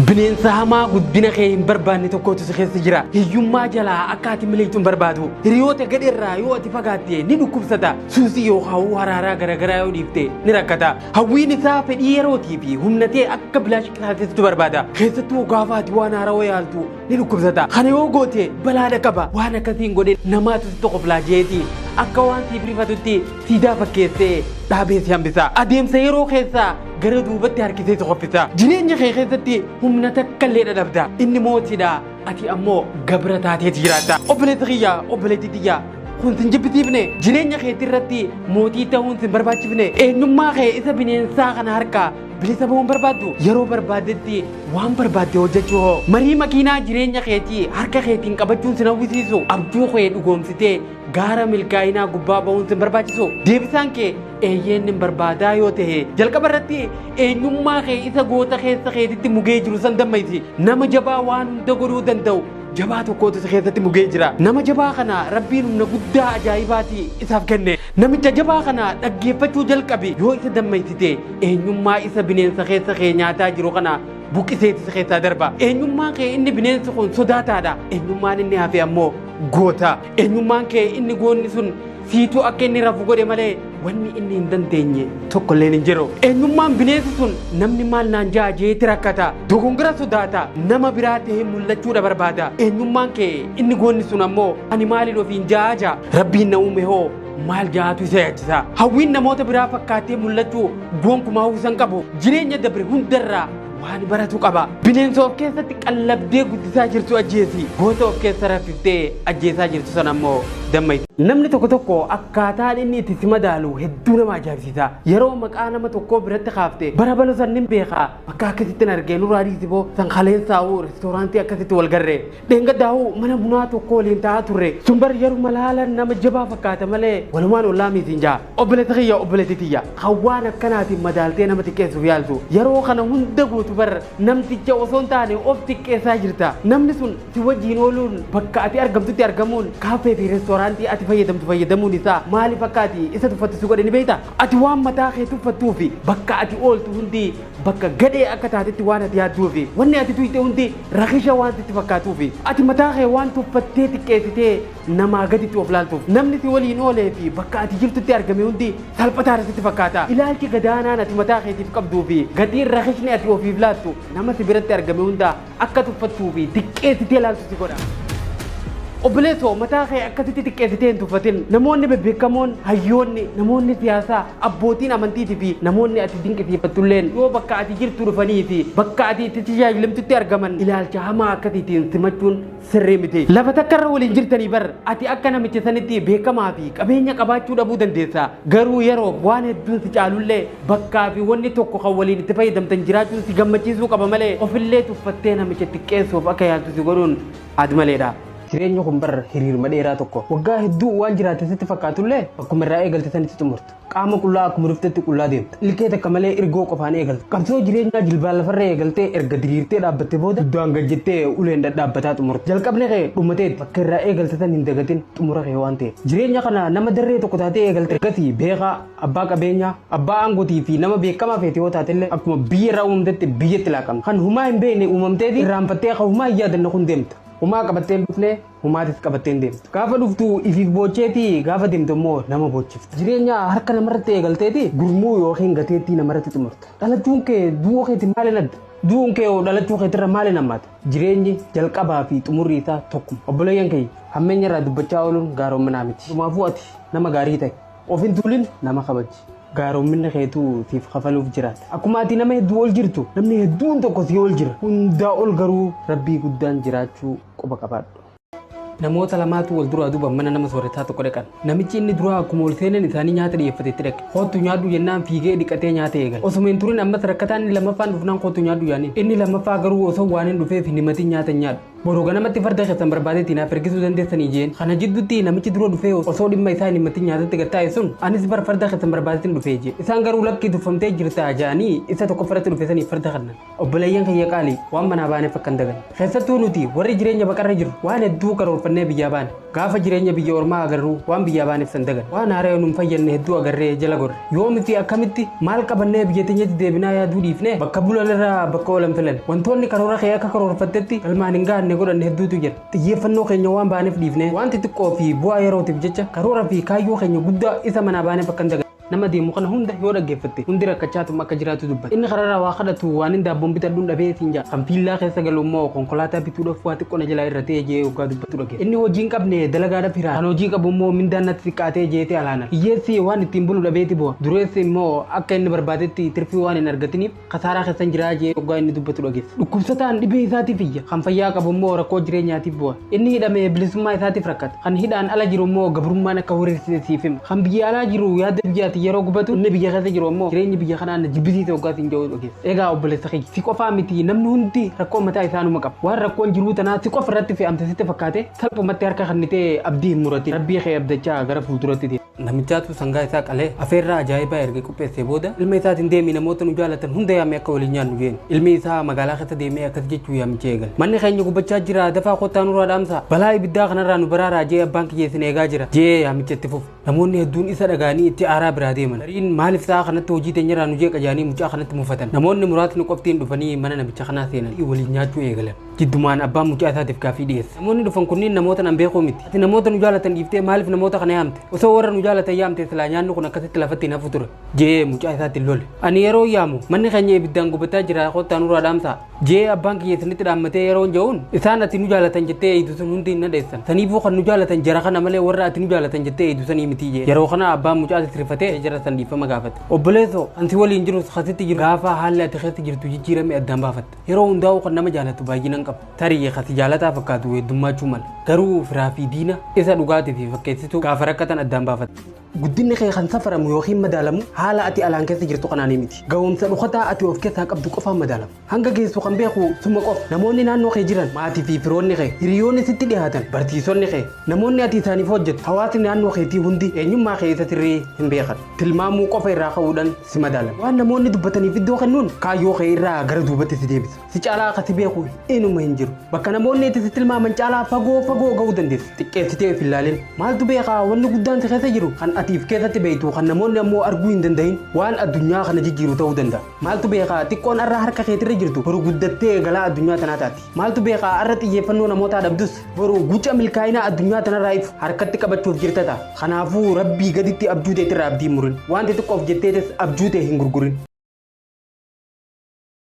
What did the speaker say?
Bineensa hamaa guddina kee hin barbaanne tokkotu si keessa jira. Hiyyummaa jalaa akka ati miliqxu hin barbaadu. Hiriyoota gadheerraa yoo ati fagaatte ni dhukkubsata. Suusii yookaan haraaraa garaagaraa yoo dhiifte ni rakkata. Hawwiin isaa fedhii yerootii fi humna ta'e akka bilaash qisaaseessitu barbaada. Keessattuu gaafa ati waan haarawaa yaaltu ni dhukkubsata. Kana yoo goote balaa dhaqaba. Waan akkasiin godhe namaatu si tokkoflaa jeeti. Akka waan siif rifatutti Siidaa fakkeessee dhaabee si hambisa. Adeemsa yeroo keessaa gara duubatti harkisee si qoffisa. Jireenya kee keessatti humna takka illee dhadhabda. Inni mootidha. Ati ammoo gabra taateeti jiraatta. Obboleessa kiyya, obboleettii tiyya. Kun sin jibbisiifne jireenya keetti irratti mootii ta'uun sin barbaachifne eenyummaa kee isa bineensaa kana harkaa bilisa ba'uun barbaaddu yeroo barbaaddetti waan barbaadde hojjechuu hoo marii makiinaa jireenya keetii harka keetiin qabachuun sin hawwisiisu abjuu kee dhugoomsitee Gaara milkaa'inaa gubbaa ba'uun sin barbaachisoo? Deebisaan kee eeyyeen nin barbaadaa yoo ta'e jalqaba irratti eenyummaa kee isa goota keessa keetitti mugee jiru san dammaysi. Nama jabaa waan hunda godhuu danda'u jabaa tokkootu si keessatti mugee jira. Nama jabaa kana Rabbiin humna guddaa ajaa'ibaati isaaf kenne. Namicha jabaa kana dhaggeeffachuu jalqabi yoo isa dammaysite eenyummaa isa bineensa keessa kee nyaataa jiru kana buqqiseeti si keessaa darba. Eenyummaan kee inni bineensi kun sodaataadha. Eenyummaan inni hafe ammoo goota. Eenyummaan kee inni goonni sun siituu akka inni rafu godhe malee wanni inni hin dandeenye tokko illee hin jiru. Eenyummaan bineensi sun namni maal naan ja'a jeeti rakkata. Dogongora sodaata. Nama biraa ta'ee mul'achuudha barbaada. Eenyummaan kee inni goonni sun ammoo ani maaliin ofiin ja'a ja'a. Rabbiin na uume hoo maal ja'atu isa yaachisa. Hawwiin namoota biraa fakkaatee mul'achuu gonkumaa uwwisa hin qabu. Jireenya dabre hundarraa Waan baratu qaba. Bineensa of keessatti qallabdee guddisaa jirtu ajjeesi. Goota of keessa raffiftee ajjeesaa jirtu sana ammoo damma itti. Namni tokko tokko akkaataan inni itti si madaalu hedduu nama ajaa'ibsiisa. Yeroo maqaa nama tokkoo biratti kaafte bara balo san nin beekaa bakka akkasitti hin argee nurraa dhiisi boo san kaleensaa'uu reestooraantii akkasitti wal garree. Dheengaddaa'u mana bunaa tokko waliin taa'aa turre. Sun bar yeruma laalan nama jabaa fakkaata malee walumaan ollaa miitiin ja'a. Obboleetti kiyya obboleetti tiyya kan waan akkanaatiin madaaltee nama xiqqeessuuf yaaltu yeroo kana hunda gootu bar namticha osoo hin taane of xiqqeessaa jirta. Namni sun si wajjiin ooluun bakka ati argamtutti argamuun kaaffee fi reestooraantii ati fayyadamtu fayyadamuun isaa maaliif akka ati isa tuffattu si godhe ni beektaa? Ati waan mataa kee tuffattuu fi bakka ati ooltu hundi bakka gadhee akka taatetti waan ati yaadduu fi wanni ati tuyte hundi rakisha waan sitti fakkaatuu fi ati mataa kee waan tuffattee xiqqeessitee namaa gaditti of laaltuuf namni si waliin oolee fi bakka ati jirtutti argame hundi salphataadha sitti fakkaata. Ilaalchi gadaanaan ati mataa keetiif qabduu fi gatiin rakishni ati ofiif laattu nama si biratti argame hunda Akka tuffattuu fi diqqeessitee laaltu si godha. Obboleessoo mataa kee akkasitti xiqqeessitee hin tuffatin. Namoonni bebbeekamoon, hayyoonni, namoonni siyaasaa, abbootiin amantiitii fi namoonni ati dinqisiifattulleen yoo bakka ati jirtu dhufanii fi bakka ati itti tajaajilamtutti argaman ilaalcha hamaa akkasiitiin simachuun sirrii miti. Lafa takka irra waliin jirtanii bar ati akka namicha sanitti beekamaa fi qabeenya qabaachuu dhabuu dandeessa. Garuu yeroof waan hedduun si caalullee bakkaa fi wanni tokko kan waliin itti fayyadamtan jiraachuun si gammachiisuu qaba malee ofillee tuffattee namicha xiqqeessuuf akka yaaltu si godhuun aadmaleedha. Jireenyi kun bar hiriiruma dheeraa tokko. Waggaa hedduu waan jiraatte sitti fakkaatullee bakkuma irraa eegalte sanitti xumurta. Qaama qullaa akkuma dhuftetti qullaa deemta. Ilkee takka malee irgoo qofaan eegalta. Qabsoo jireenyaa jilbaan lafarra eegaltee erga diriirtee dhaabbatte booda duddaan gad jettee uleen dhadhaabbataa xumurta. Jalqabni kee dhumateeti. Bakka irraa eegalte tan hin dagatin xumura kee waan ta'eef. Jireenya kana nama darree tokko taatee eegalta. Ergasii beekaa, abbaa qabeenyaa, abbaa aangotii fi nama beekamaa feete yoo taatellee akkuma biyya irraa uumamtetti biyyatti laaqamta. Kan humaa hin beekne uumamteeti irraanfattee kan humaa hin yaadanne kun deemta. Humaa qabattee hin dhufne Humaatis qabattee hin deemtu. Gaafa dhuftu ifiif boocheeti gaafa deemtu immoo nama boochifta. Jireenya harka namarratti eegalteeti gurmuu yookiin gateettii namarratti xumurta. Dhalachuun kee du'uu keetiin maaliin adda? Du'uun kee hoo dhalachuu keetirra maaliin hammaata? Jireenyi jalqabaa fi xumurri isaa tokkuma. Obboleeyyan kiyya hammeenya irraa dubbachaa ooluun gaaroominaa miti. Dhumaafuu ati nama gaarii ta'i. Of hin tuulin nama kabaji. Gaaroominni keetu siif kafaluuf jiraata. Akkuma ati nama hedduu ol jirtu namni hedduun tokko si ol jira. Hundaa ol garuu Rabbii guddaan jiraachuu. quba qabaadhu. Namoota lamaatu wal duraa duuban mana nama sooretaa tokko dhaqan. Namichi inni duraa akkuma ol seenan isaanii nyaata dhiyeeffate itti dhaqe. Koottu nyaadhu jennaan fiigee dhiqatee nyaata eegale. Osuma hin turin ammas rakkataa inni lammaffaan dhufnaan koottu nyaadhu jaaniin. Inni lammaffaa garuu osoo waan hin dhufeef hin himatin nyaata hin nyaadhu. Boru ganamatti farda keessan barbaadeetii naaf ergisuu dandeessanii jeen. Kana jidduutti namichi dura dhufee osoo dhimma isaa hin himatin nyaatatti gad taa'e sun anis bar farda keessan barbaadeetiin dhufee jee. Isaan garuu lakkii tuffamtee jirtaa jaanii isa tokkoffa irratti dhufe saniif farda kennan. Obboleeyyan kiyya qaalii, waan manaa baaneef akka hin daganne. Keessattuu nuti warri jireenya baqarra jirru waan hedduu karoorfannee biyyaa baane. Gaafa jireenya biyya ormaa agarru waan biyyaa baaneef san daganne. Waan haaraya nu hin fayyadne hedduu agarree jala gorre. Yoo nuti akkamitti maal qabannee biyya teenyatti deebinaa yaaduu dhiifnee bakka bulan irra bakka oolan filanne. Wantoonni karoora kee akka karoorfattetti galmaan hin gahanne godhanne hedduutu jira. Xiyyeeffannoo keenya waan baaneef dhiifnee waan xixiqqoo fi bu'aa yerootiif jecha karoora fi kaayyoo keenya guddaa isa manaa baaneef akka hin daganne. Nama deemu kana hunda yoo dhaggeeffatte hundi rakkachaatuma akka jiraatu dubbata. Inni kararraa waa kadhatu waanin daabboon bitadhuun dhabee siin ja'a. Kan viillaa keessa galu immoo konkolaataa bituudhaaf waa xiqqoo na jalaa irratee jee hoggaa dubbatu dhageessa. Inni hojii hin qabne dalagaadhaaf hiraara. Kan hojii qabu immoo mindaan natti xiqqaatee jeeti alaanan. Hiyyeessi waan ittiin bulu dhabeeti boha. Dureessi immoo akka inni barbaadetti tirfii waan hin argatiniif kasaaraa keessan jiraa jee oggaa inni dubbatu dhageessa. Dhukkubsataan dhibee isaatiif iyya, kan fayyaa qabu immoo rakkoo jireenyaatiif bu'a. Inni hidhame bilisummaa isaatiif rakkata. Kan hidhaan ala jiru immoo gabrummaan akka horiirsite siif hima. Kan biyya alaa jiru yaada biyyaatiin yeroo gubatu, inni biyya keessa jiru immoo jireenyi biyya kanaa na jibbisiisa oggaa siin jedhu dhageessa. Egaa obboleessa kiyya, si qofaa miti namni hundi rakkoo mataa isaa numa qaba. Waan rakkoon jiruu tanaa si qofa irratti fe'amte sitti fakkaate salphumatti harka kennitee abdii hin muratin. Rabbii kee abdachaa gara fuulduratti deemi. Namichaatu sangaa isaa qalee afeerraa ajaa'ibaa erga qopheessee booda ilma isaatiin deemii namoota nu jaalatan hunda yaamee akka waliin nyaannu jeen. Ilmi isaa magaalaa keessa deemee akkas jechuu yaamicha eegale. Manni keenya gubachaa jira dafaa kottaa nurraa dhaamsaa. Balaa ibiddaa kanarraa nu baraaraa jee abbaan kiyya isin eegaa jira jee yaamicha itti fufe. Namoonni hedduun isa dhagaanii itti aaraa biraa deeman. Gariin maaliif sa'a kanatti hojii teenyarraa nu jeeqa jaanii mucaa kanatti mufatan. Namoonni muraasni qoftiin dhufanii mana namicha kanaa seenan waliin nyaachuu eegalan. Jiddumaan abbaan mucaa isaatiif gaaffii dhiyeesse. Namoonni dhufan kunniin namoota nan beekuu miti. Ati namoota nu jaalatan dhiiftee maaliif namoota kana yaamte? Osoo warra nu jaalatan yaamte silaa nyaanni kun akkasitti lafatti hin hafu ture. Jee mucaa isaatiin lole. Ani yeroo yaamu manni keenya ibiddaan gubataa jira kottaa nurraa dhaamsaa. Jee abbaan kiyya isinitti dhaammatee yeroon ja'uun isaan ati nu jaalatan jettee eeydu sun hundi hin nadheessan. Saniifuu kan nu jaalatan jara kana malee warra ati nu jaalatan jettee eeydu sanii mitii jee. Yeroo kana abbaan mucaa sisrifatee jara san dhiifama gaafate. Obboleessoo ansi waliin jirus kasitti jiru gaafa haalli ati keessa jirtu jijjiirame addaan baafatta. Yeroo hundaa'uu kan nama jaalatu baay'inaan qaba. Tarii kati jaalataa fakkaatu heddummaachuu mala. Garuu firaa fi diina isa dhugaatii fi fakkeessituu gaafa rakkatan addaan baafata. Guddinni kee kan safaramu yookiin madaalamu haala ati alaan keessa jirtu kanaanii miti. Ga'umsa dhokataa ati of keessaa qabdu qofaan madaalama. Hanga geessu kan beeku suma qofa. Namoonni naannoo kee jiran, maatii fi firoonni kee, hiriyoonni sitti dhihaatan, barsiisonni kee, namoonni ati isaaniif hojjettu, hawaasni naannoo keetii hundi eenyummaa kee isa sirrii hin beekan. tilmaamuu qofa irraa ka'uudhaan si madaala. Waan namoonni dubbataniif iddoo kennuun kaayyoo kee irraa gara duubatti si deebisa. Si caalaa akka si beeku inuma hin jiru. Bakka namoonni itti si tilmaaman caalaa fagoo fagoo ga'uu dandeessa. Xiqqeessitee of hin laalin. Maaltu beekaa wanni guddaan si keessa jiru kan ati if keessatti beektu kan namoonni ammoo arguu hin danda'in waan addunyaa kana jijjiiru ta'uu danda'a. Maaltu beekaa xiqqoon har'a harka keetirra jirtu boru guddattee galaa addunyaa tanaa taati. Maaltu beekaa har'a xiyyeeffannoo namootaa dhabdus boru guca milkaa'inaa addunyaa tanarraa ifu harkatti qabachuuf jirta ta'a. Kanaafuu rabbii gaditti abjuu teetirraa abdii murin. Waan xixiqqoof jetteetis abjuu tee hin gurgurin.